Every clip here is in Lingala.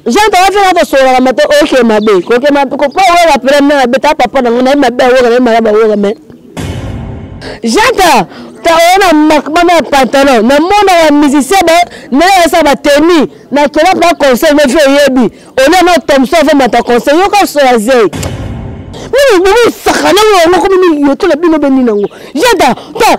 jean towafi na kosololaka mate oke mabe koke mabe kopo owoka pele mna mabe ta papa nango naye mabe awoka naye malaba awoka me janta taona makmama ya pantalon namonaka musicien ba nayasa bateni nakela mpa conseil nefi oyebi olia na tomso ave mata conseil yoka osola zei mimi bomisaka nango yango komi miyoto na bino beni nango janta ta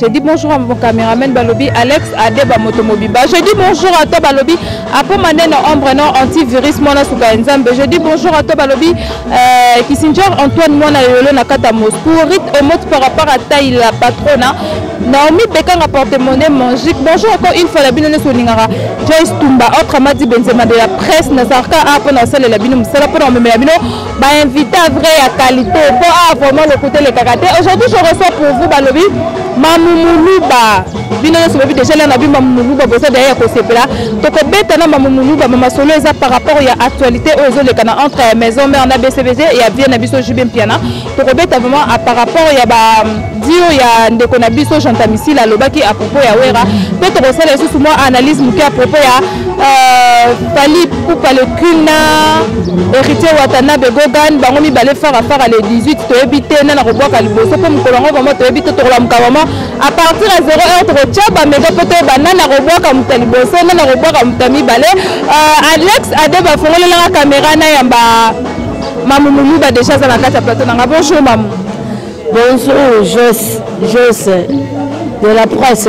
Je dis bonjour à mon caméraman Balobi, Alex Adeba Motomobiba. Je dis bonjour à toi Balobi, Apo Maneno Ombre non antivirus Mona Souka Nzambe. Je dis bonjour à toi Balobi, euh, Kissinger Antoine Mona Yolo Nakata Moscou. Rite Omot par rapport à taille la patrona. Naomi Bekanga porte-monnaie magique. Bonjour encore une fois la bino neso ningara. Joyce Tumba autre Madi Benzema de la presse Nazarka Apo Nasale la bino Msala pour la bino ba invita vrai ya qualité po awa vraiment lokuta elekaka te aujourd'hui je reçois pour vous balobi mamumuluba bino nyonso boyebi deja lia na bino mamumuluba boza daya ya kosepela tokobeta na mamumuluba mamasolo eza par rapport ya actualité oyo ezolekana entre ya maison mare na bcbg ya vie na biso jube mpiana tokobeta vraiment par rapport ya ba dio ya ndeko na biso jean tamisila alobaki à propos ya wera mpe tokosala lisusu mwa analyse moke à propos ya Fally Ipupa le Queen na Héritier Watanabe Gogan bango mibale fara fara le 18 toyebi te nana kobwaka liboso mpo mokolo yango vraimen toyebi te tokolamuka vraimen à partir ya 0 heure tokotya bamega mpo toyeba nana kobwaka moto ya liboso nana kobwaka moto ya mibale euh, Alex Ade bafongolelaka kamera na yamba mamu muluba deja aza na kati ya plateau nanga bonjour mamu bonjour Jos Jos de la presse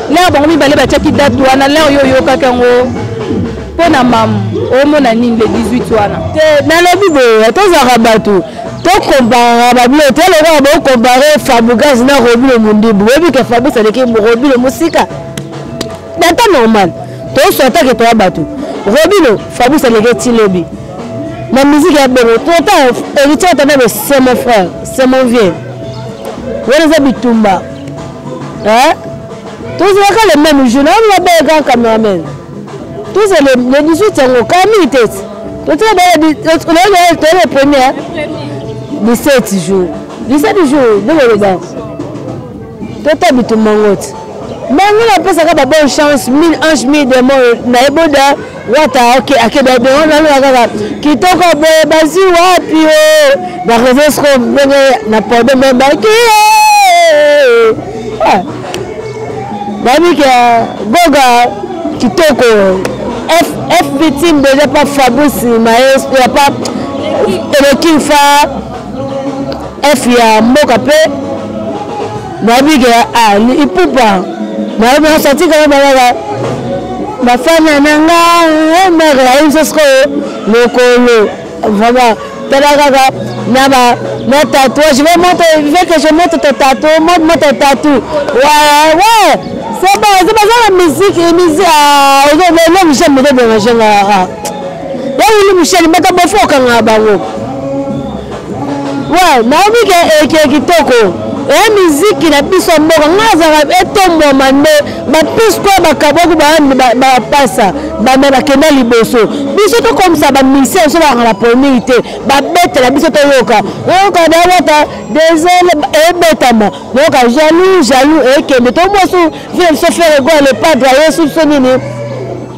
L'heure bango mibale batiaki date wana l'heure yo oyokaki yango mpo na mamu omona nini le 18 wana te nalobi boye tozalaka bato tokomparaka babilo te lokola bokompare fabugas na robilo mondibu boyebi ke fabus aleki robilo mosika na temps normal toswatake toya bato robilo fabus aleki tilobi na miziki ya bongo tota héritier atanda be c'est mon frère c'est mon vieux wana eza bitumba eh? tozalaka le même jour nayo mabele kaka cameraman toza le 18 yango kaka mingi te totoyaka le premier 17 jour 17 jour nde koloba tota bitumba yango te mango napesaka babonne chance mille ange mille demon naye boda wata ok akenda bongo naloba kaka kitoko boye bazwi wapi o na reseau soko ndenge na pode membaki babike goga kitoko f victime deja pa fabrice maestro ya pa elekinfa f ya mboka mpe nabike ya ah, ipupa nayebi nasatika yo balaka bafana na nga eh, mare ayebi so sikoyo lokolo vraiment tala kaka na ba na tatouage ve moto ve que je moto to tatu moto moto tatu ouais ouais c'est bon c'est pas ça la musique et musique ah le le Michel me dérange là ah ya wili Michel mata bofo kanga bango Ouais, Naomi ke eke eh, kitoko. Eh miziki na biso mboka ngazaka etombwama eh, nde bapisi koya bakaboki bapasa bame bakenda liboso biso tokomisa bamisien biso bakanga na polmiki te babetela biso toyoka oyoka dawata desele ebetama yoka jalou jalou ekende eh, tomosu vie biso fere goa le padre yesu biso nini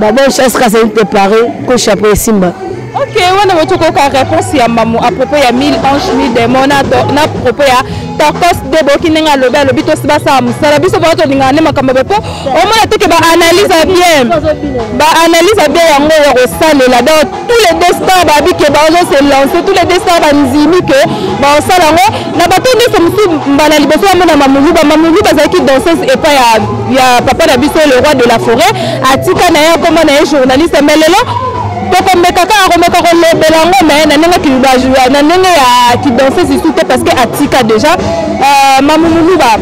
ba bonne chance ka c'est te paré ko chapeau simba ok wana botokoka réponse ya mamu à propos ya 1000 ange 1000 démon na na propos ya torcos deboki ndenge alobi alobi tosi basala mosala biso baa tolingana nde makambo boye mpo omona teke baanalyse ya bien baanalyse ya bien yango ya kosalela donc tous les deux stars babi ke bazo se lancer tous les deux stars bandimi ke baosala yango na bato nyonso mosusu mbala liboso bamona mamuluba mamuluba azalaki danseuse epai ya, ya papa na biso le roi de la forêt atika na ye akoma na ye journaliste mais lelo tokomeka kaka komeka kolobela yango me na ndenge na ndenge ya kidanseuse isu te parce que atika déjà euh, mamumuluba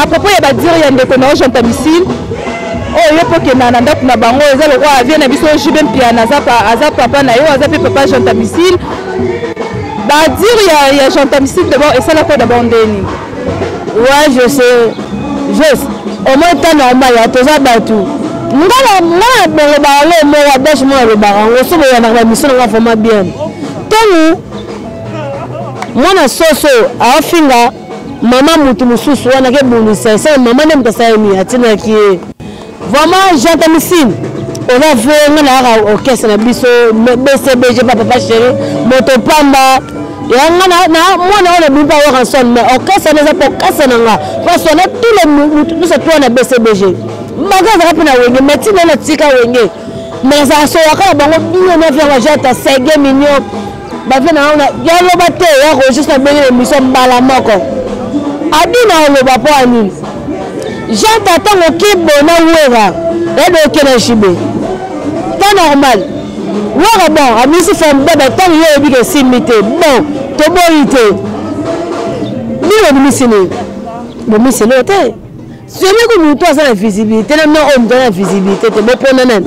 à propos ya badire ya ndeko na ojo ntabisile oyo oh, ye mpo okenda na ndako na bango eza lokola avie na biso jibe mpiana aza papa na yo aza mpe papa jean tamicile badire ya, ya jean tamicile dabord esalaka dabord nde nini wa je sais juste omoi ta normal ya toza bato ngana ngana bolobaka ngo mo wa dash mo alobaka ngo so boyanaka na biso nanga vraimen bien ntango mwana soso aofinga mama mutu mususu wana ke bonisa esa mama nde mutu asala nini atinaki ye vraiment jantamicine oza vrai nga nayaka orchestre na biso bcbg pa papa chéri moto pamba yanga na mwana oyo nabibi pa waranson mais orchestre wana eza pokasa na nga parce na tout le mutu nyonso toa na bcbg bango azalaka mpe na wenge mais ntina natika wenge mais azala soyaka na bango bino na vianga jata sege mignon bavie na wana yaloba te ya rogis na bengele miso mbala moko abina oloba mpo ya nini jean tatango kibo na wera yade okena jibe ta normal wera bon abisi formidable ntango yo oyebi kesimbi te bon toboyi te nini obimisi nini bomisi eloo te soki moto aza na visibilité na mna oyo moto aza na visibilité te bopona nani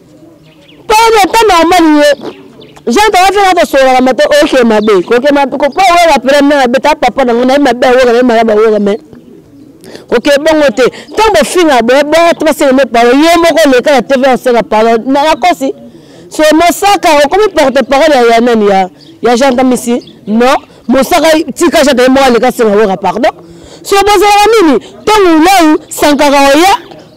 mpo na ntango ya mali ye jean tawafela na kosololaka mate oke mabe kokepo awoka pela na abeta papa nango naye mabe awoka naye malamu awoka me oke bongo te ntango bofinga boye batu basenga me palo ye moko oleka na tv osenga palo nakosi so mosaka okomi porte parole ya nani ya ya jean tamisi non mosaka tika jean taye moko aleka senga woka pardon so bozalaka nini ntango ulai sankaka oya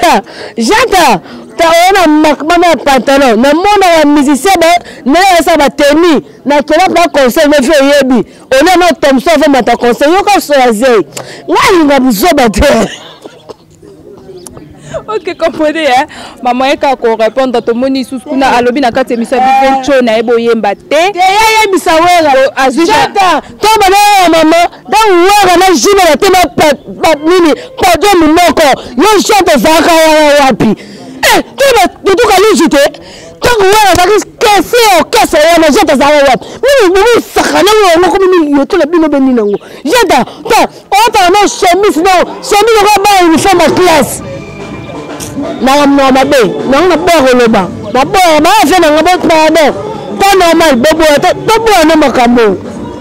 ta jata ta oyo na makmama ya pantalon na mona ya musicien ba na yasa ba tenue na kela pa conseil na vie oyebi ona na tomso va mata conseil yoka so ya zei ngai linga buzoba te ok comprenez hein maman ye kaka korépondre tomoni lisusu kuna alobi na kati emisa bivenco na ye boyemba te te ye ayebisa wera azwita to bana ya mama ntango wera na jina na te nini pado monoko yo jean tozalaka wana wapi eh, totoka luzu te ntango wera azalaki kese ya okese wana jean tozalaka wapi mimisaka nango yango komi miliyotola bino beni nango jean ta otala na chemise nao chemise okoya bana uniforme ya classe nanga moa mabe nango naboya koloba naboya baa fe nanga bo pardon ta normal boboya toboya na makambo oyo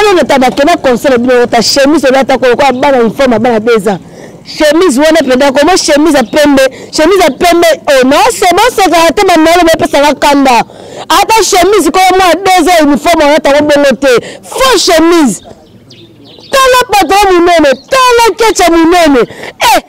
oyo na tabake na conseil bino ota chemise oyo ata kolokola bana uniforme bana deza chemise wana mpenza koma chemise ya pembe chemise ya pembe oh, naoseboseka te manolo bepesaka kanda ata chemise koyo mwa deza uniforme wana tango bongo te faux chemise tala patron monene tala kecha monene eh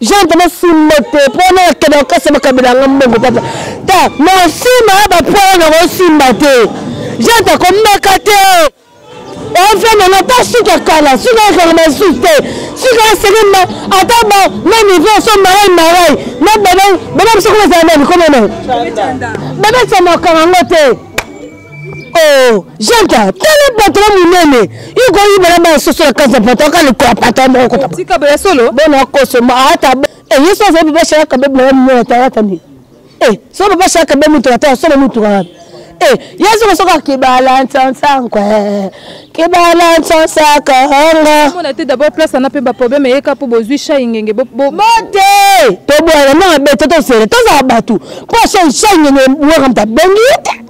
gente mosumba te mpo na akenda kokasa makabila yanga mbongo papa ta mosumba ya bapola na kosimba te gente akomaka te ofenda na ta suka kala suka ekanga masusu te suka esenge ma ata ba na niveau so marai marai na bana bana biso koma ezala nani koma nani babetisa makambo yango te Oh, janta tala patron monene ikoyibela bana soso ya kanza patron kalikola patron moko kotatika bela solo bona akosoma ata eh, yesu azali baba shaka kabe bela monene ata ata nini eh, so baba shaka kabe motuka te asolo motuka wapi eh, yesu kosoka kibala nsansanko eh, kibala nsansaka anga te d'abord place ana mpe baproblème eyeka mpo bozwi shai ngenge bote tobwana nanga bete tosele tozala bato mpo shai ngenge waka moto abengi ye te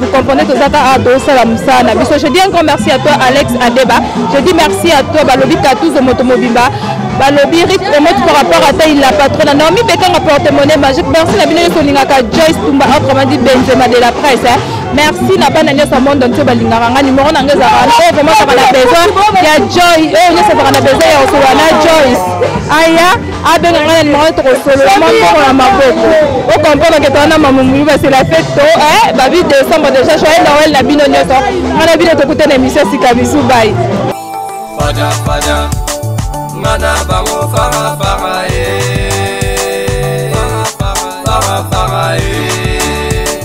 Vous comprenez que Zaka a dos la musana. Biso, je dis un grand merci à toi, Alex Adeba. Je dis merci à toi, Balobi Katous de Motomobimba. Balobi Rick Omot par rapport à ta, il la patronne. Naomi Bekanga porte-monnaie magique. Merci, la binoye soningaka Joyce Tumba, autrement dit Benzema de la presse. Hein. merci na bana nyonso ya monde entier balingaka nga nimero na nga ezalaka wana oyo vraiment azalaka na besoin ya joy oyo nyonso azalaka na besoin ya kosolola na joyce aya abenga ngai na nimero tokosolola mwa mbongo na maboko okomprendre ke towana mamumulu base la fete to eh, babi décembre déjà joye noel na bino nyonso ngai na bino tokuta na émission sika bisu bai fada fada ngai na bango fara fara e eh. fara fara e eh.